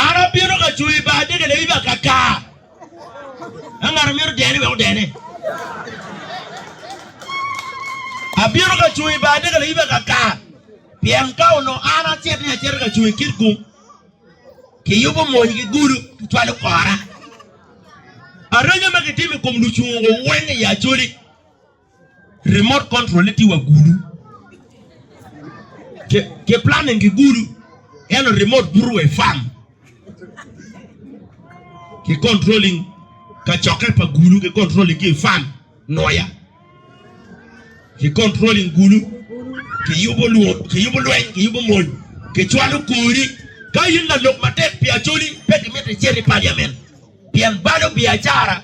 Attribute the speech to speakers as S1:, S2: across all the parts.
S1: An abino ka cung i bar adege lewiba akakar. Ka ngat omito dene wek odene. Abino ka cung i bar adege lewiba akakar. Pien ka onongo an acito ni acito ka cung i kit gung, kiyubo mony ki gudo, kicwalo kora. Areco ma kitimo i kom lucungo weng i Acholi. Remote control ne tye wa gulu. Ke, ke planning ki gulu. Eno remote buto wa i farm. Ki controlling ka cokke pa gulu, ki controlling ki i farm, noya. Ki controlling gulu, ki yubo luo, ki yubo lweny, ki yubo mony, ki cwalo kori. Ka in lalok matek pi Acholi, pe ki miti citi i parliament. Pien balo biacara.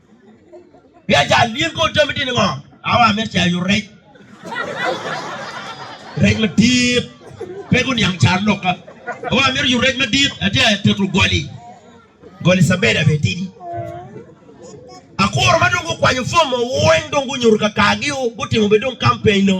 S1: Biacara din kor jami din ngo? Awa amito caya yu rec. Rec madit. Pe guniang car lok ka. Awa amito yu rec madit. Ati a teto goli. Goli sabeda be tidi. Akuro ma dong gukwanyo form mo weng dong gunyuto ka kagi o. Gutimo be dong campaign o.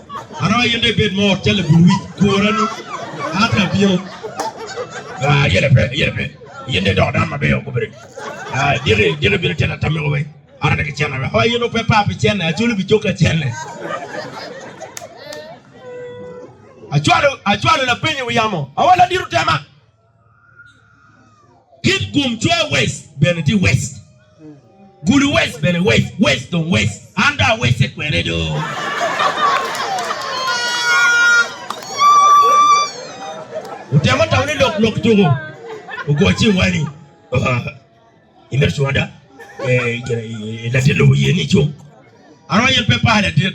S1: Aroyo in dong ibed mor cal labul wic gworani. An dong abino. Ah, yene pe, yene pe. Yin dong idoko dano maber o gubere. Ah, diki, diki bino tena tamiko weng. Ara diki cene weng. Oh, yin ope pa pi cene, acwalo pi coka cene. Acwalo, acwalo lapenyo wi yamo. Awa ladiro tema. Kit gum cwer wes bene tye wes. Gulu wes bene wes. Wes dong wes. An dong awese kwene do. Otemo tamo ni lok lok tuko. Ogo cing wani. Imedo cunga da. Latin lobo yen ni cung. Aro yen pe pale dit.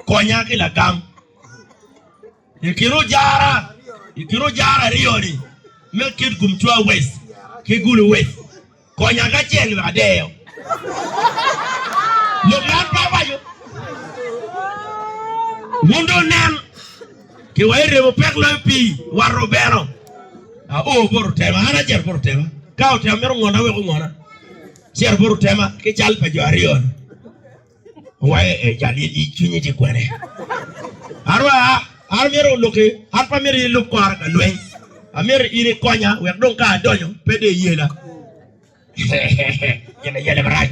S1: Konya ki lagam. I kin ojara i kin ojara aryo ni me kit gum cwa west ki gulu west konya kacel wek adeyo lok man pe awaco wun dong nen ki wa iremo pek loyo pi war obeno a o bor otema an acer bor otema ka otema mero ngona wek ongona cer bor otema ki cal pa jo aryo ni Waye e jal i cwinyi tye kwene. Arwa an myero oluki, an pe amyero in ilub kora ka lweny. Amyero in ikonya wek dong ka adonyo pe de iyela. Gin ayele marac.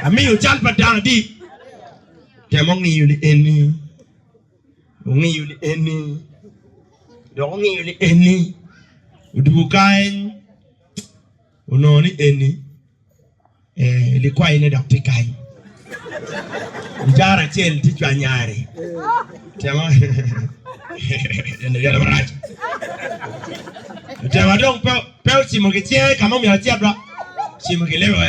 S1: Amiyo cal pa dano adi? Temo ngiyo li eni. Ongiyo li eni. Dok ongiyo li eni. Odwogo kany. Onongo ni eni ee likwayi ne dok tye kany. Icara acel tye cwa nyare. Tema eno yale marac. Tema dong pe pe ocimo ki cinge ka mo myero acit ba. Cimo ki lebe.